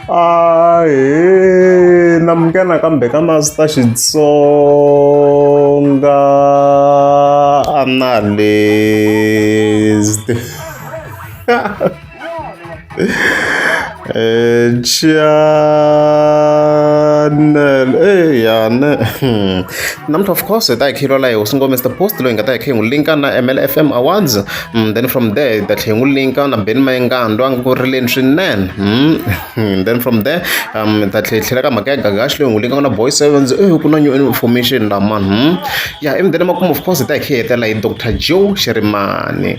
a hi namuke nakambe ka masita xitsonga analyst Eh, channel eh yane hmm. namuntlha of course hi ta hi khilola hi hosi ngomesta post loyi hi nga ta hi khe hi n'wi linka na mlfm awards Mm, then from there the tlhengu leyi nga na beni mayengandwa a nga ku rileni swinene mm, mm, then from there um ta tlhela ka mhaka ya gagaxi leyi n'wi leyi nga na boy sevens eh ku na new information la man hmm? ya yeah, emdeni makumu of course ta hi khihetela hi dr joe xirimani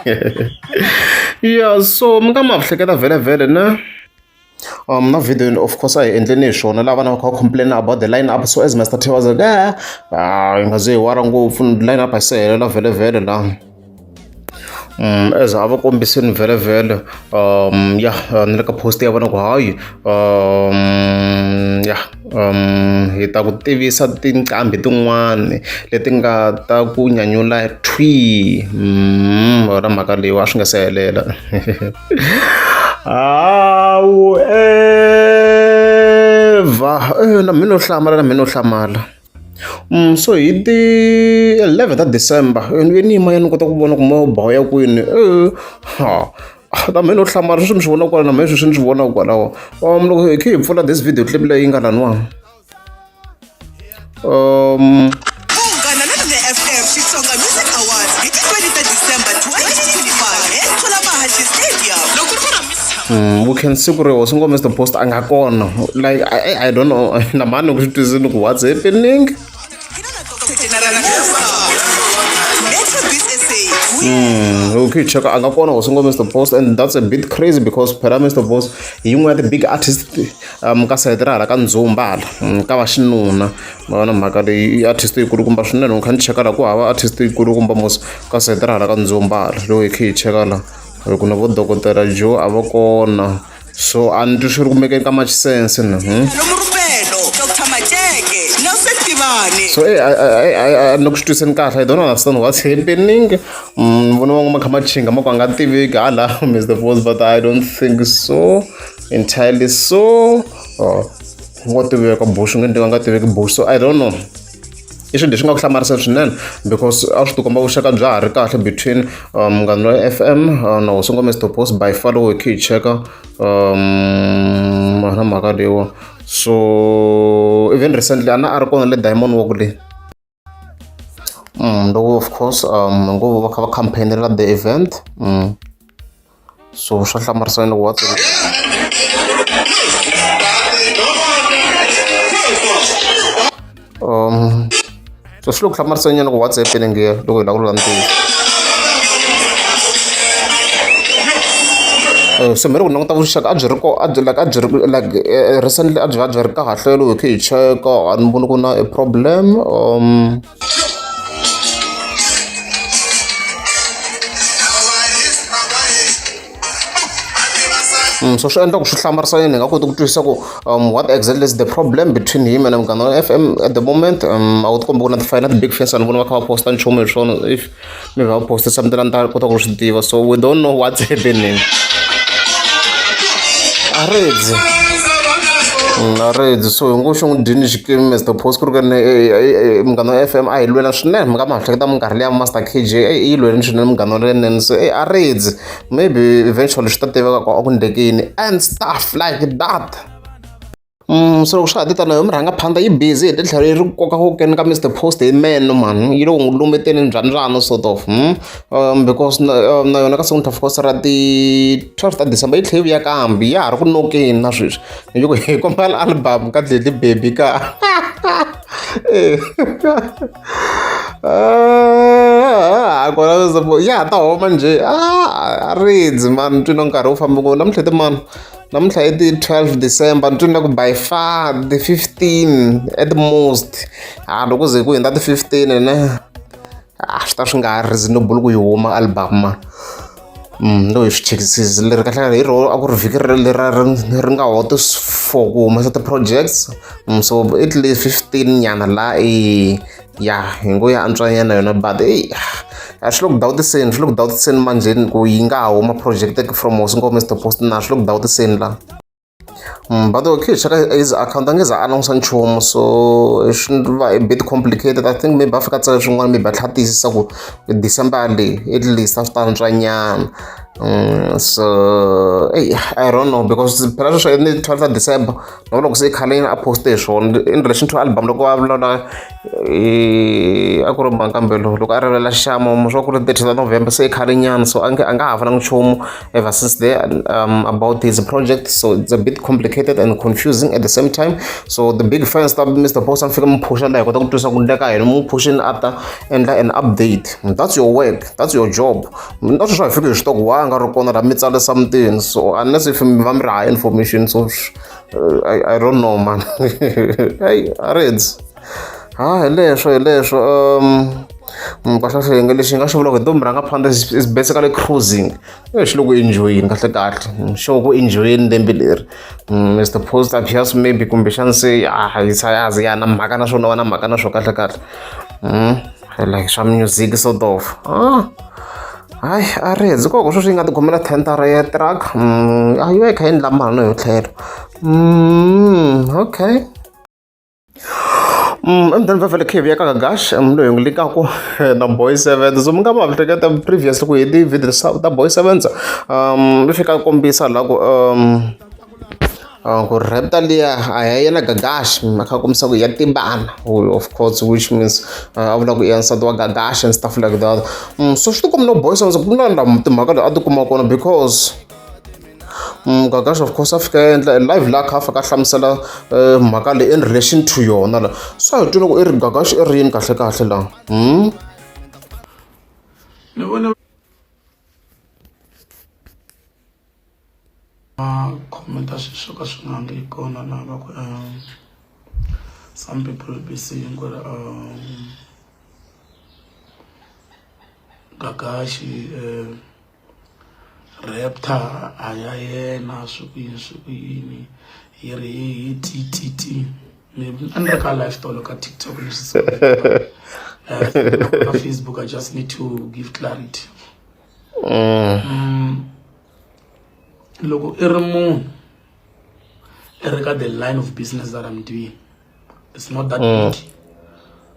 ya yeah, so mi nga ma hleketa vhele vhele na na vhidiyoni of course a hi endleni hi swona laha vana va kha va complain-a about the line up so as Mister Tiwa was like a hi nga ze hi wara ngopfu line up a yi se helela vhelevhele laha um as a va kombisini vhelevhele um ya ni le ka post ya vona ku hayi um ya hi ta ku tivisa tinqambi tin'wani leti nga ta ku nyanyula thwii wena mhaka leyi wa swi nga se helela hawu evha na mina no hlamala na mina no hlamala Mm, so hi ti 11 ta December ni ve ni yima ya ni kota ku vona ku mo baya kwini ha na mina u hlamala sweswi mi swi vona kwala na mina sweswi ni swi vonaka kwalaho um loko hi khe hi pfula this video clip leyi nga laniwani um Ungana na Lune FM Xitsonga Music Awards hi ti 20 ta December 2025 eThula Mahashi Stadium. Loko ku ramisa Mm, we can see ku ri hosi ngomesta post a nga kona like i, I don't know na mani ku swi twisini ku what's happening Mm, okay, check out Angakona was single Mr. Post, and that's a bit crazy because Pera Mr. Post, you were the big artist, um, Kasaidra, like Anzumba, mm, Kawashinuna, Mana Makari, artist, you could come back, and can check out Aqua, artist, you could come back, Kasaidra, like Anzumba, Loki, check out, kuna vodokotera jo avakona so a ni twi swi ri kumeke ka machisense ni hmm? lomurupelo dr majeke nose tivane so eh, eh, eh, eh, eh, ni ku swi twiseni kahle i don't understand what's happening Mm, ni vona van'we ma kha ma chinga ma ku a nga tiviki hala miss the voice but i don't think so entirely so oh, ngo tiveka bush nge ndi nga tiveki bush so i don't know i swilo leswi nga ku hlamarisa swinene because a swi tikomba vuxaka bya ha ri kahle between um, munghana loyi f m uh, na hosingo mr post by far loko hi khe hi cheka um, na mhaka leyiwa so even recently a na a ri kona le diamond wa ku leyi mm, loko of course um ngo va kha va campaignela the event mm. so swa hlamarisa loko wa um so swi le ku hlamarisa nyana ku whatsapp le nge loko hi lava ku lula ntivo eh, so mi ri ku languta vuxaka a byi ri ko a byi like a byi ri like eh, recently a byi va byi ri kahle loko hi khe hi cheka a ni voni ku na a problem um Mm, so swi endla ku swi hlamarisa yini hi nga koti ku twisisa ku um, what exactly is the problem between him and muganga wa f m at the moment um, a wu ti kombi ku na tifayele na ti-big fence vanhu vona va kha va posta nchumu hi swona if mi va poste something a ni ta kota ku swi tiva so we don't know what's happening a redzi mm, a redzi so hi ngo xo n'wi dyini xikimi mr post ku ri kene eh, eh, eh, munghana wa f m a hi lwela swinene mi nga mi hahleketa minkarhi leya master k j yi lweleni swinene munghana wa lenene so a redzi maybe eventually swi ta tiveka ku a ku ndlekini and stuff like that so loko swa ha ti tano yo murhangaphandza yi busy hi titlhelo yi ri ku koka kokeni ka Mister Post hi meno mhani yi lo n'wi lumbeteni njhanjhana sort of um because na na yona ka seventy four ra ti twelve ta December yi tlhe yi vuya kambe ya ha ri ku nokeni na sweswi ni yi ku hi kombela album ka Dledi Baby ka a kona ya ha ta homa njhe a ridzi mani ntwini wa nkarhi wu fambe ngopfu namuntlha ti mani namuntlha i ti 12 december ni twini ku by far the 15 at most ha ah, loko ze ku hundza ti 15 ne a ah, swi ta swi nga reasonable ku yi huma album mm, no hi swi chekisisi leri kahlekale hi rona a ku ri vhiki lera ri nga hoto for ku humesa ti-projects mm, so at least 15 nyana la i ya hi ngo ya antswanyana yona but eyi a swi le ku dawutiseni swi le ku dawutiseni manjheni ku yi nga ha huma projected from hosi ngo mr post na swi le ku dawutiseni la mm, but okay cheka his account a nge za a langusa nchumu so swi va a bit complicated i think maybe a fika tsala swin'wana maybe a tlha tiyisisa ku december leyi at least a swi ta antswanyana mm, so eyi i don't know because phela sweswo ni twelve december na loko se khaleni a poste hi swona in relation to album loko a vulavula a ku ri mankambelo loko a rivelela xixamo swa ku ri thirty ta november se khale nyana so a nge a nga ha fananga nchumu ever since there um, about his project so it's a bit complicated and confusing at the same time so the big fans ta mr boss a ni fika mi phusha laha hi kota ku twisa ku ndleka yini mu phuxini a ta endla an update that's your work that's your job mina sweswi a fiki hi xitoko wa nga ri kona ra mi tsarisa mutini so unless if mi va mi ri high information so uh, I, i don't know man hey areds ha ah, hi leswo hi leswo um mm, kahlehlenga lexi nga xi vulaka hi ntombi rhanga phanda is basically cruising eh, xi loko enjoyini kahle kahle mm, xo ku enjoyini lembe leri mr mm, post appears maybe kumbexani se a ah, yi sayazi ya na mhaka na swona va na mhaka na swo kahle kahle like swa music sort of ah hayi a ri hedzi koko sweswi yi nga tikhomela tentara ya truck mm, a yo yi kha yi endla mali no yo tlhelo mm, okay Mm, and then vavele khivi ya kakagash um, loyi ngi likaku eh, na boy seven so mi nga ma hleketa previous loko hi ti-video ta boy seven um leswi ka kombisa la ku um ku rheta liya a ya yena gagashi a kha kombisa ku ya timbana of course which means a vula ku i ya nsati wa gagashi and stuff like that mm, so swi tikombi no boyisa ndzi ku na la timhaka leyi a tikuma kona because mm, gagashi of course a fika endla live la kha a fika a hlamusela eh, mhaka leyi in relation to yona la so hi twi loko i ri gagashi i ri yini kahle kahle la hmm? va comment a swilo swo ka swi nga ri kona laha va ku um some people will be saying ku ri um gagaxi um raptor a ya yena swi ku yini swi ku yini yi ri hi ttt maybe a ni ri ka life tolo ka tiktok ni swi ka facebook i just need to give clarity mm. loko i ri munhu i ri ka the line of business that i'm doing it's not that mm. big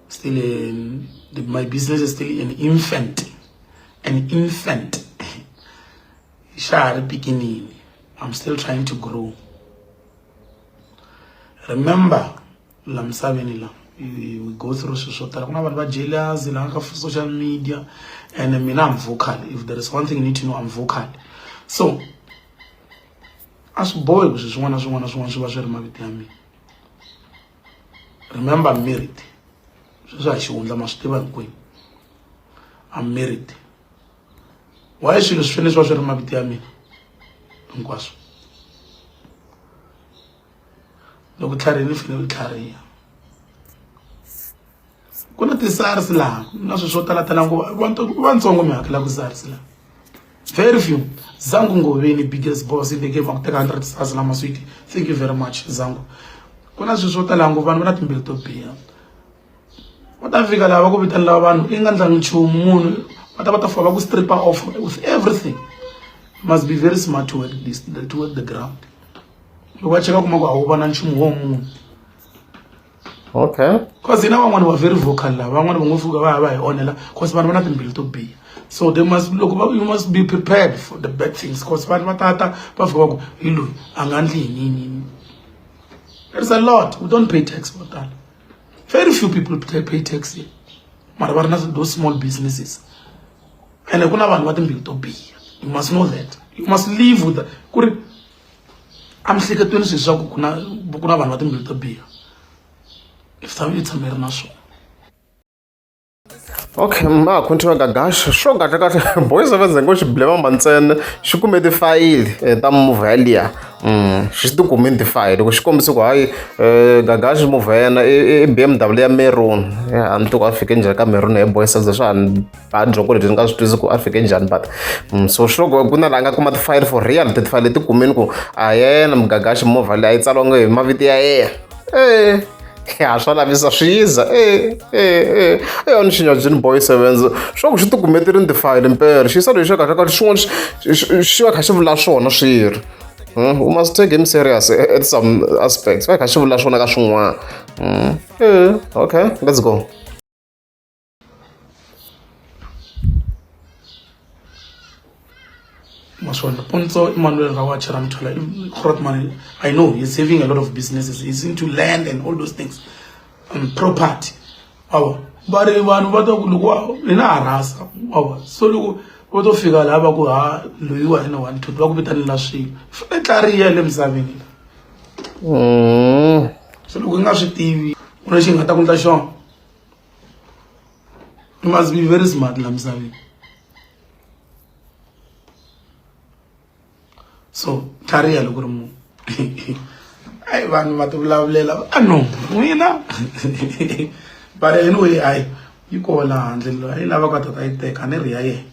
still in, the, my business is still an infant an infant xa ha ri pikinini i'm still trying to grow remember la misaveni la we go through swilo swo tala ku na vanhu va jealous la ka social media and mina I'm vocal if there is one thing you need to know I'm vocal so a swi bohi ku swi swin'wana na swin'wana na swin'wana swi va swi ri mavito ya mina remember married sweswi a xihundla ma swi tiva hinkwenu I'm married why swilo swi fanele swi va swi ri mavito ya mina hinkwaswo loko tlhari ni file tlhariha ku na ti-SARS laha na swilo swo tala tala ngopfu vanhu vantsongo mi hakela ku SARS laha very few zangu ngoveni biggest boss in the game akuteka 100 stars lama sweet thank you very much zangu ku na swilo swo tala ngopfu vanhu va na timbilu to biha va ta fika lava ku vitanela vanhu i nga ndlangi nchumu munhu va ta va ta fika va ku stripper off with everything must be very smart to work this to work the ground loko va cheka kuma ku a wu vona nchumu wo munhu okay cause hina van'wani wa very vocal lava van'wani va ngo fuka va ya va hi onhela cause vanhu va na timbilu to biha so they must loko va you must be prepared for the bad things cause vanhu va tata va fika va ku hi loyi a nga ndli hi nini there's a lot we don't pay tax vo tala very few people pay tax here mara va ri na those small businesses ene ku na vanhu va timbilu to biha you must know that you must live with ku ri emihleketweni swi swa ku ku na ku na vanhu va timbilu to biha misava yi tshama yi ri na swona okay ma ha continue gagash sure kahle kahle boys of zengo xi blema mantsena xi kume tifayili eh, ta move yaliya mm, xi ti kumini tifayili loko xi kombise ku hayi eh, gagash move ya yena i b m w ya meruni a ni toko a fike njhani ka meruni hi boys of ze swa ha ni byongo lebyi ni nga swi twisi ku a fike njhani but mm, so sure go ku na laha nga kuma tifayili for real titifayili leti kumeni ku a yena mugagaxi movha leyi a yi tsaliwange hi mavito ya yena e ya swa lavisa swi yiza e e e e yona xinyajini boy sevens swa ku xi ti kume ti ri ni tifayili mpere xi yisa lexi xa kahle ka xin'wana xi va kha xi vula swona swi ri hmm, u must take him serious at some aspects va kha xi vula swona ka swin'wana hmm, e okay let's go Maswanda Ponzo Emmanuel Rawacha Ramtula Khratman, I know he's having a lot of businesses. He's into land and all those things. Um, property. Awa. Bari vanhu va ta ku loko hi na harasa. Awa. So loko va to fika laha va ku ha loyi wa hina one two va ku vitanela swilo. Fane tlariya le misaveni. Mm. So loko hi nga swi tivi, u na xi nga ta ku ndla xona. you must be very smart la misaveni so tlhariha loko ri munhu ayi vanhu va tivulavulela va no n'wina but anyway ayi yi kona handle leyi lava ka tata yi teka ni ri ya yena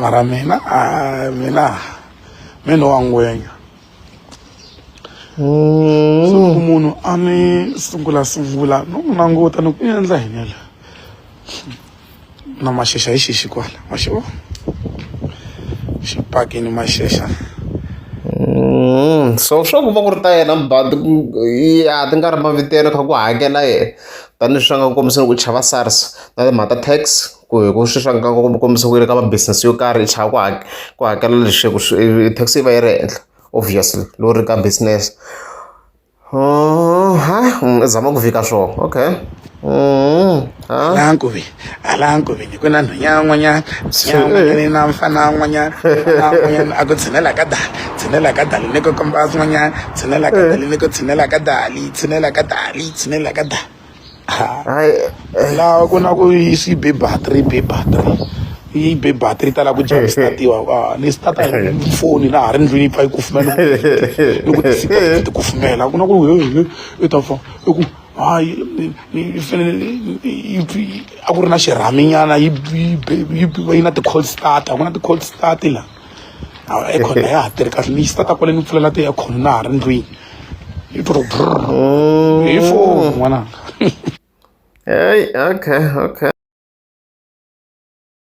mara mina ah, mina mi no wa ngwenya so loko munhu a ni sungula sungula no n'wi languta ni ku endla yini la na maxexa hi xixi kwala ma xi vona xipakini maxexa so swa ku va ku ri ta yena but ku ya ti nga ri mavitelo kha ku hakela yena tanihileswi va nga ku kombisa loko u chava SARS na timhaka ta tax ku hi ku swi swa nga ku kombisa ku yi le ka ma business yo karhi i chava ku hakela ku hakela lexi ku tax yi va yi ri henhla obviously loko ri ka business ha u zama ku vika swona okay ha. hala nkoveni ku na nhwenya yan'wanyana nsiyan'wanyana na mfana wan'wanyana n'wanyana a ku tshinela ka dali tshinela ka dali ni ku komba swin'wanyana tshinela ka dali ni ku tshinela ka dali tshinela ka dali tshinela ka dali laha ku na ku swi be battery be battery yi be battery ta lava ku dya statiwa ni stata hi foni laha ri ndlwini yi pfa yi kufumela ni ku ni ku kufumela ku na ku i ta fa i ku hayi yi fanele yi a ku ri na xirhaminyana yi yi na ti-call start a ku na ti-call start la aircon a ya ha tirhi kahle ni yi start kwale ni pfulela ti-aircon na ha ri ndlwini yi to mm. hi foni n'wananga okay okay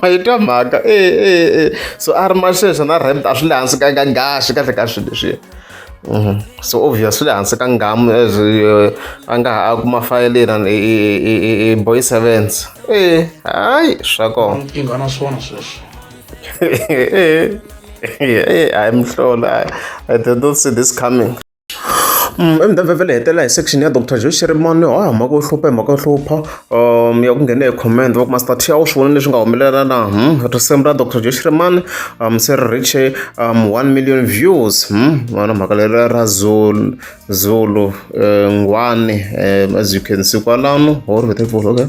ma yi twa mhaka e so a ri ma sweswo na rent a swi le hansi ka ka ngaxi kahle ka swilo leswiya mhm. so obvious swi le hansi ka ngamu as eh, a nga ha a kuma fayele yena i boy sevens e hayi swa kona nkingha na swona sweswo e hayi mhlolo i did not see this coming Emudavhavhela hi hetelela hi section ya doctor Joe Shirimani wa ha mhaka yo hlupha hi mhaka yo hlupha ya ku nghena hi comment va ku master Thia u swi vona leswi nga humelela na risimu ra doctor Joe Shirimani se ri riche one million views vona mhaka leri ra Zulu Zulu Ngwani as you can see kwalano or with okay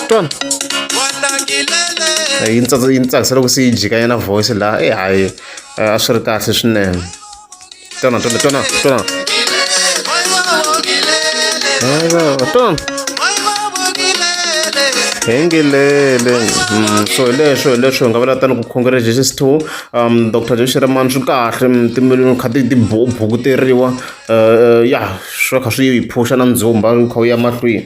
twana yi ni tsakisa yi ni tsakisa loko se yi jikanya na voice laha e hayi a swi ri kahle swinene twana twana twana twana twana hengilele mm, so hi leswo hi leswo hi nga vula tani ku khongela jesus two um dr jeshiraman swi kahle mm, timiloni kha ti bukuteriwa um eh, eh, ya swi kha swi yi phusha na ndzumba kha wu ya mahlweni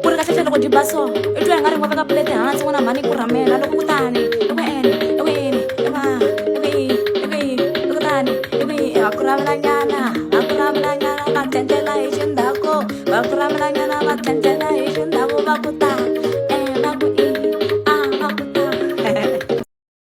ku ri kahlehla loko byi ba so i twa hi nga ri ngo veka pulete hansi n'wana mhani ku rhamela loko kutani eku ene eku yini eva eku yi eku yi eku tani eku yi ha ku ravelanyana ha ku ravelanyana va tlendlela hi xindhaku va ku ravelanyana va tlendlela hi xindhaku va ku ta